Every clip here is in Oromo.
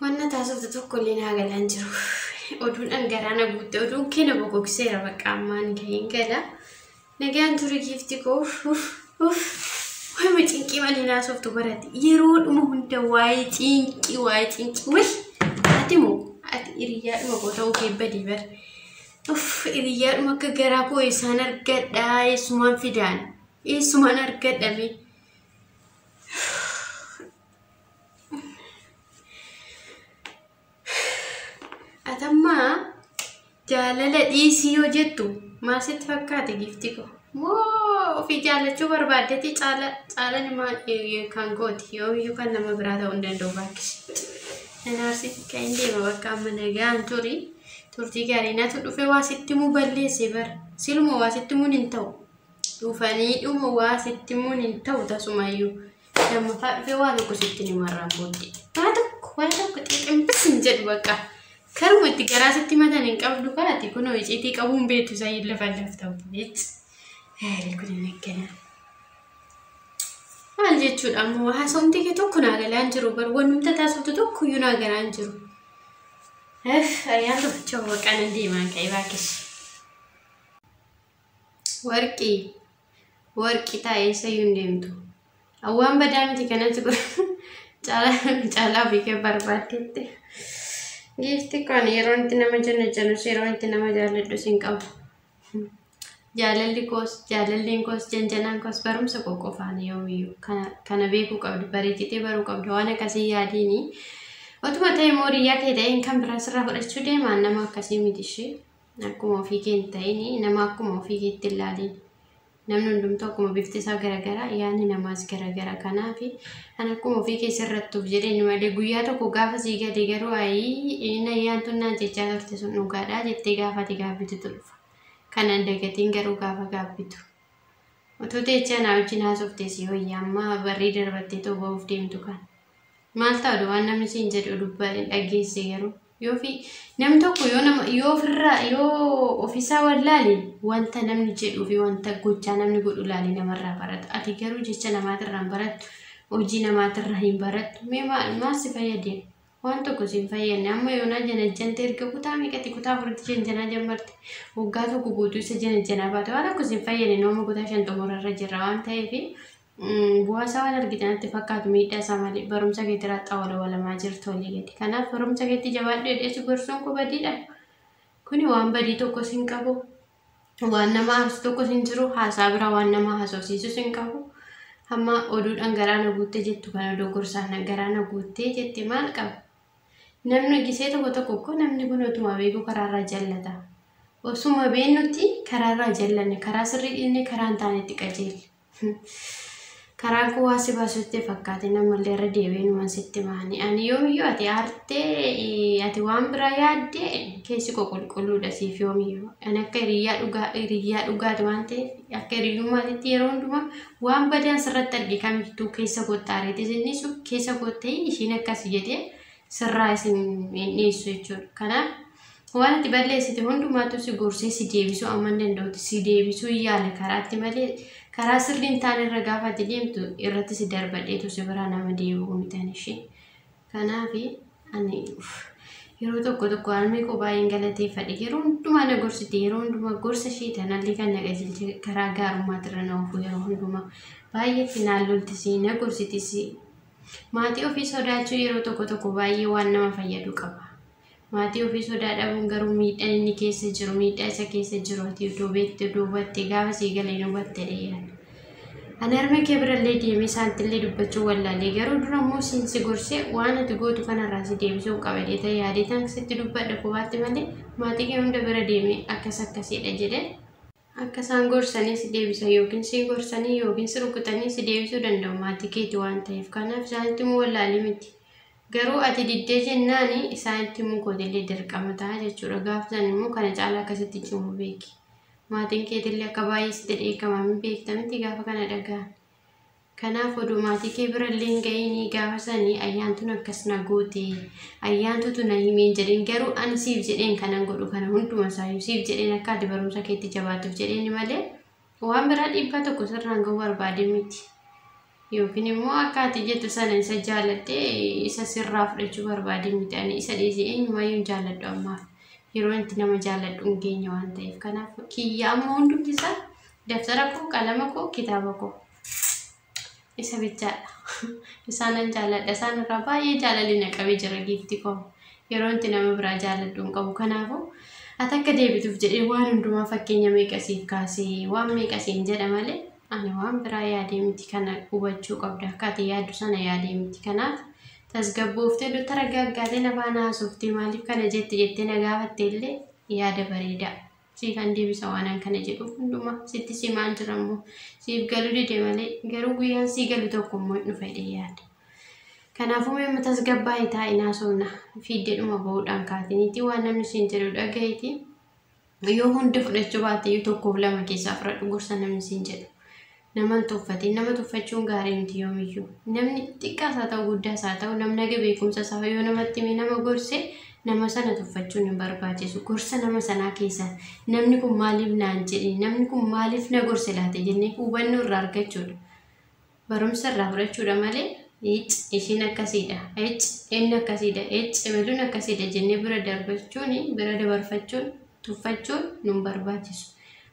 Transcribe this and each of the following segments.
Wanna taasiftu tokko illee naa galaan jiru. Oduun dhangaraa na guutte. Oduun kee na bogogseera bakka ammaan gaheen gala. Nagaan ture giifti koo. Uf, uf. Waa'ee cinqii malee naasoftu barate. Yeroo dhuma hunda waa'ee cinqii, waa'ee cinqii. Wai! Ati moo ati hiriyaa dhuma koo ta'uu kee badii bar. Uf, hiriyaa dhuma akka garaa koo eessaan argadha, eessumaan fidaan, eessumaan argadhame. Atammaa jaalala dhiisii yoo jettu maal sitti fakkaate giifti ko? Moo ofii jaallachuu barbaaddetti caala caalan maal kan kooti yoomiyyuu kan nama biraa ta'uu hin danda'u baakkisi. Nanaarsi kan hin deema bakka amma nagaan turi turtii gaarii natu dhufe waa sitti muu balleesse bara siluma waa sitti muun hin ta'u. Dhufaniidhuma waa sitti himuun hin ta'u tasumayyuu. Lammaffaa dhufee waa tokko sitti hin himarraan booddee. Waa tokko waa tokko xiximbis hin jedhu bakka. Karuma itti garaa sitti himatan hin qabdu kaati kunoo iciitii qabuun beektu isaa hin lafa lafta obboleetti. Heerii kun hin eeggana. Maal jechuudha ammoo haasofni kee tokko naa galaa hin jiru bar wanumta taasiftu tokko iyyuu naa galaa hin jiru. Eef ayyaan tokko waqaan hin deemaan ka'e baakkishi. Warqi. Warqi taa eessayyuu hin deemtu. Awwaan badaa miti kanatti kun caalaa ofii kee barbaaddeetti. Giifti kun yeroo itti nama jenna jenus yeroo itti nama jaalladhus hin qabu. Jaalalli koos jaalalleen koos janjanaan koos barumsa koo qofaan yoomiyyuu kana beekuu qabdu bareechitee baruu qabdu waan akkasii yaadiini. Otuma ta'e immoo hiriyaa kee ta'een kan biraa sirraa fudhachuu deemaan nama akkasii miti ishee. akkuma ofii kee hin ta'in nama akkuma ofii keetti hin laalin namni hundumtuu akkuma bifti isaa garagaraa yaadni namaas garagara kanaaf kan akkuma ofii kee sirrattuuf jedheen malee guyyaa tokko gaafa sii gade garuu ayii nayyaan tun naan jechaa turte sun dhugaadhaa jettee gaafate gaabbitu dhufa kanan dagatiin garuu gaafa gaabbitu. Otoo teechaa naa wajjin haasofte si wayya amma barrii darbattee too ba'uuf deemtu kan. Maal ta'u waan namni siin jedhu dubbaa dhageesse garuu. Yoo fi namni tokko yoo nama yoo ofirraa yoo ofisaa wallaale wanta namni jedhuu fi wanta gochaa namni godhu laale namarraa barata. Ati garuu jecha namaatirraa hin barattu. Hojii namaatirraa hin barattu. Mee maal maal si fayyade? Waan tokko si hin fayyadne. Amma yoonaa janajjante erga kutaa meeqatti kutaa afuritti janjanaa jammarte. Waggaa tokko guutuu isa janajjanaa baate. Waan tokko si hin fayyadne nooma kutaa shan xumurarra jirra waan ta'eef Bu'aasaa waan argitan itti fakkaatu miidhaa isaa malee barumsa keetiraa xawala walamaa jirtu olii gadi. Kanaaf barumsa keetti jabaadhu jedhee si gorsuun koo badiidha. Kuni waan badii tokkos hin qabu. Waan nama aarsu tokkos hin jiru. Haasaa bira waan nama haasofsiisus hin qabu. Amma oduudhaan garaa na guuttee jettu kana odoo gorsaan na garaa na guuttee jette maal qaba? Namni gisee tokko tokko koo namni kun otuma beeku karaarraa jallata. Osuma beennutti karaarraa jallanne karaa sirrii dhiisne karaa hin taanetti qajeelle. Karaan kun waan si baasu sitti fakkaatin ammallee irra deebi'ee numan sitti maani. Ani yoomiyyuu ati aartee ati waan biraa yaadde keessi koo qulqulluudha siif yoomiyyuu. Ani akka hiriyyaa dhugaa hiriyyaa dhugaati waan ta'eef akka hiriyyummaatitti yeroo hundumaa waan badaan sirratti arge kamittuu keessa kootti aareetis inni sun keessa kootti ishiin akkas jedhee sirraa isin hin dhiissu jechuudha. Kanaaf waan itti balleessite hundumaatu si gorsee si deebisuu amma hin danda'utti si deebisuu hin yaale karaatti malee karaa sirrii hin taane irra gaafa ati deemtu irratti si darbadheetu si biraa nama deebi'uu mitan ishee. Kanaaf ani yeroo tokko tokko harmee koo baay'een galateeffadhe yeroo hundumaa na gorsite yeroo hundumaa gorsa ishee tanallee kan na qajeelche karaa gaarummaatti irra na oofuu yeroo hundumaa baay'eetti naan loltisi na gorsitisi Maatii ofii sodaachuun yeroo tokko tokko baay'ee waan nama fayyadu qaba. Maatii ofii sodaa dhabuun garuu miidhaan inni keessa jiru miidhaa isa keessa jiru ati odoo beekte odoo hubatte gaafa sii galee hin hubatte dheeran. Ani harmee kee birallee deemee saantillee dubbachuu wallaalee garuu dura immoo siin si gorsee waan ati gootu kanarraa si deebisuun qaba jeetee yaadee tan sitti dubbadhe kophaatti malee maatii kee hunda bira deemee akkas akkasidha jedhee Akka isaan gorsanii si deebisan yookiin si gorsanii yookiin si rukutanii si deebisuu danda'u maatii keeti waan ta'eef kanaaf isaanitti himuu wallaalii miti. Garuu ati diddee jennaan isaanitti himuu kootillee dirqama ta'a jechuudha. Gaaf san immoo kana caalaa akkasitti cimu beeki. Maatiin keetillee akka baay'ee sitti dheekkaman beekta miti gaafa kana dhaga'an. Kanaaf odoo maatii kee bira illee hin ga'iinii gaafa sanii ayyaantuun akkas na goote ayyaantuutu na himeen jedhin garuu ani siif jedheen kanan godhu kana hunduma isaayyuu siif jedheen akka ati barumsa keetti jabaatuuf jedheeni malee waan biraa dhiibbaa tokko sirraan ga'uu barbaadee miti yookiin immoo akka ati jettu sana isa jaaladhe isa sirraa fudhachuu barbaadee miti ani isa dhiisee eenyumayyuu hin jaaladhu ammaaf yeroo itti nama jaaladhu hin geenye waan ta'eef kanaaf kiyya amma hundumti isaa Dabtara koo, qalama koo, kitaaba koo. Isa bichaadha. Isaanan jaaladha. Isaan irraa baay'ee jaalalli na qabee jira giifti koo. Yeroo itti nama biraa jaaladhu hin qabu. Kanaafuu ati akka deebituuf jedhee waan hundumaa fakkeenya meeqa siif kaasee waan meeqa siin jedha malee ani waan biraa yaadee miti kana hubachuu qabda akka ati yaaddu sana yaadee miti kanaaf tasgabbooftee dutta raggaaggaatee na faana haasofte maaliif kana jette jettee na gaafatte illee yaada bareedaa. siifan deebisa waanan kana jedhuuf hundumaa sitti simaan jira immoo siif galu dide malee garuu guyyaan sii galu tokko immoo hin dhufa jedhee yaada. Kanaafuu mee amma tasgabbaa'ii taa'inaa soona fiiddeedhuma bahuudhaan kaatiniitii waan namni siin jedhu dhaga'iitii yoo hunda fudhachuu baatte iyyuu tokkoof lama keessaa fudhadhu gorsa namni siin jedhu. Nama hin tuffatin. Nama tuffachuun gaarii miti yoomiyyuu. Namni xiqqaas haa ta'u guddaas haa ta'u namnage beekumsa isaa yoo namatti hime nama gorse nama sana tuffachuun hin barbaachisu. Gorsa nama sanaa keessaa namni kun maaliif naan jedhe namni kun maaliif na gorse laata jennee hubannoo irraa argachuudha. Barumsa irraa fudhachuudha malee ic ishiin akkasiidha ic inni akkasiidha ic ebeluun akkasiidha jennee bira darbachuun bira dabarfachuun tuffachuun nun barbaachisu.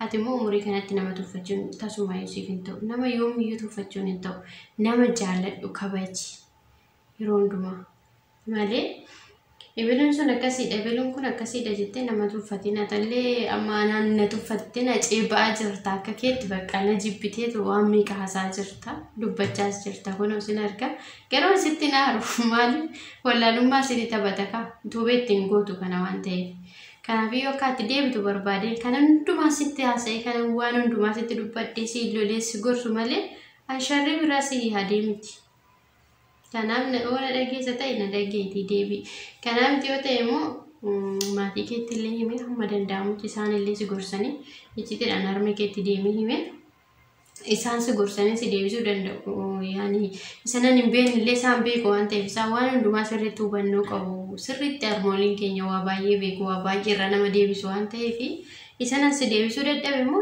Ati immoo umurii kanatti nama tuffachuun tasumaayyuu siif hin ta'u. Nama yoomiyyuu tuffachuun hin ta'u. Nama jaalladhu kabaji. Yeroo hundumaa. Malee ebeluun sun akkasiidha ebeluun kun akkasiidha jettee nama tuffatiin atallee amma anaan na tuffattee na ceeba'aa jirta akka keetti bakka na jibbiteetu waan meeqa hasaa jirta dubbachaas jirta kun isin arga garuu asitti naaru maali wallaalummaa isin taphata kaa tuubeetti hin gootu kana waan ta'eef. Kanaafuu yoo akka ati deebitu barbaadeen kan hundumaa sitti haasa'ee kan waan hundumaa sitti dubbadhee si lolee si gorsu malee an sharrii biraa si yaadee miti. Kanaaf na yoo na dhageessa ta'e na dhageetii deebi. Kanaa miti yoo ta'e immoo mm, maatii keetti illee himee hamma danda'amutti isaan illee si gorsanii iccitiidhaan harmee keetti deemee himee isaan si gorsanii si deebisuu danda'u. Yaani isanan hin beekne illee isaan beeku waan ta'eef isaan waan hundumaa sirriitti hubannoo qabu. Sirriitti harmooliin keenya waa baay'ee beeku waa baay'ee irra nama deebisu waan ta'eef isanan si deebisuu dadhabe immoo